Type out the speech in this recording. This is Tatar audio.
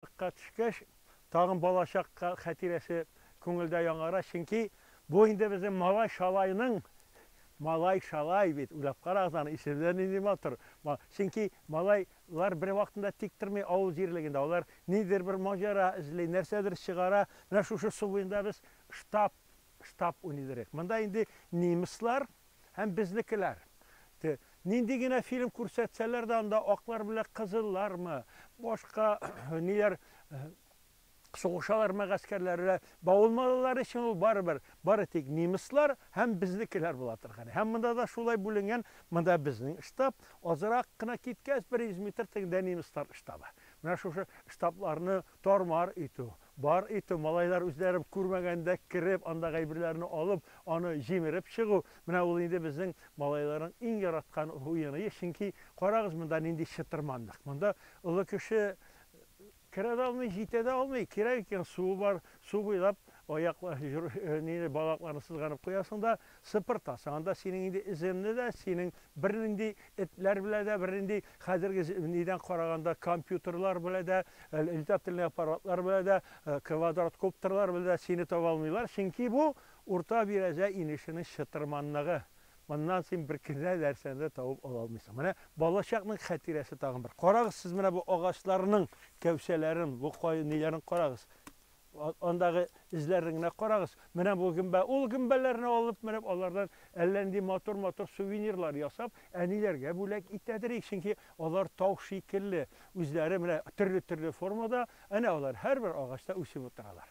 Кырыкка төшкәч, тагын балачак хәтирәсе күңелдә яңара, чөнки бу инде безнең малай-шалайның, малай-шалай бит, уйлап карагыз аны, исеме дә нинди матур, чөнки малайлар бервакытында тик тормый авыл җирлегендә, алар ниндидер бер маҗара эзли, нәрсәдер чыгара, менә шушы су буенда без штаб, штаб уйный идек, монда инде немецлар, Һәм безнекеләр. Те, нинди генә фильм күрсәтсәләр дә, анда аклар белән кызыллармы, башка ниләр сугышалармы гаскәрләре, бавылмалылар өчен ул барыбер, бары тик немецлар һәм безнекеләр була торган. Һәм монда да шулай бүленгән, монда безнең штаб, азрак кына киткәч, бер йөз метр тегендә немецлар штабы. Менә шушы штабларны тар-мар итү. Бар итү, малайлар үзләре күрмәгәндә кереп, андагы әйберләрне алып, аны җимереп чыгу, менә ул инде безнең малайларның иң яраткан уеные, чөнки, карагыз, монда нинди чытырманлык. Монда олы кеше керә дә алмый, җитә дә алмый. Кирәк икән, суы бар, су буйлап аяк, җор, ниләр, балакларны сызганып куясың да, Сыпыртасың анда синең инде эземне дә, синең бернинди этләр белә дә, бернинди хәзерге нидән караганда компьютерлар белә дә, летательный аппаратлар белә дә, квадроткоптерлар белә дә сине таба алмыйлар, чөнки бу, Урта Бирәзә инешенең чытырманлыгы, моннан син беркенә нәрсәне дә табып ала алмыйсың. Менә балачакның хәтирәсе тагын бер. Карагыз сез менә бу агачларның кәүсәләрен, бу кай ниләрен карагыз. Андагы эзләрне генә карагыз. Менә бу гөмбә. Ул гөмбәләрне алып менеп, алардан әллә нинди матур-матур сувенирлар ясап, әниләргә бүләк итәдер ич, чөнки алар тау шикелле, үзләре менә төрле-төрле формада, әнә алар һәрбер агачта үсеп утыралар.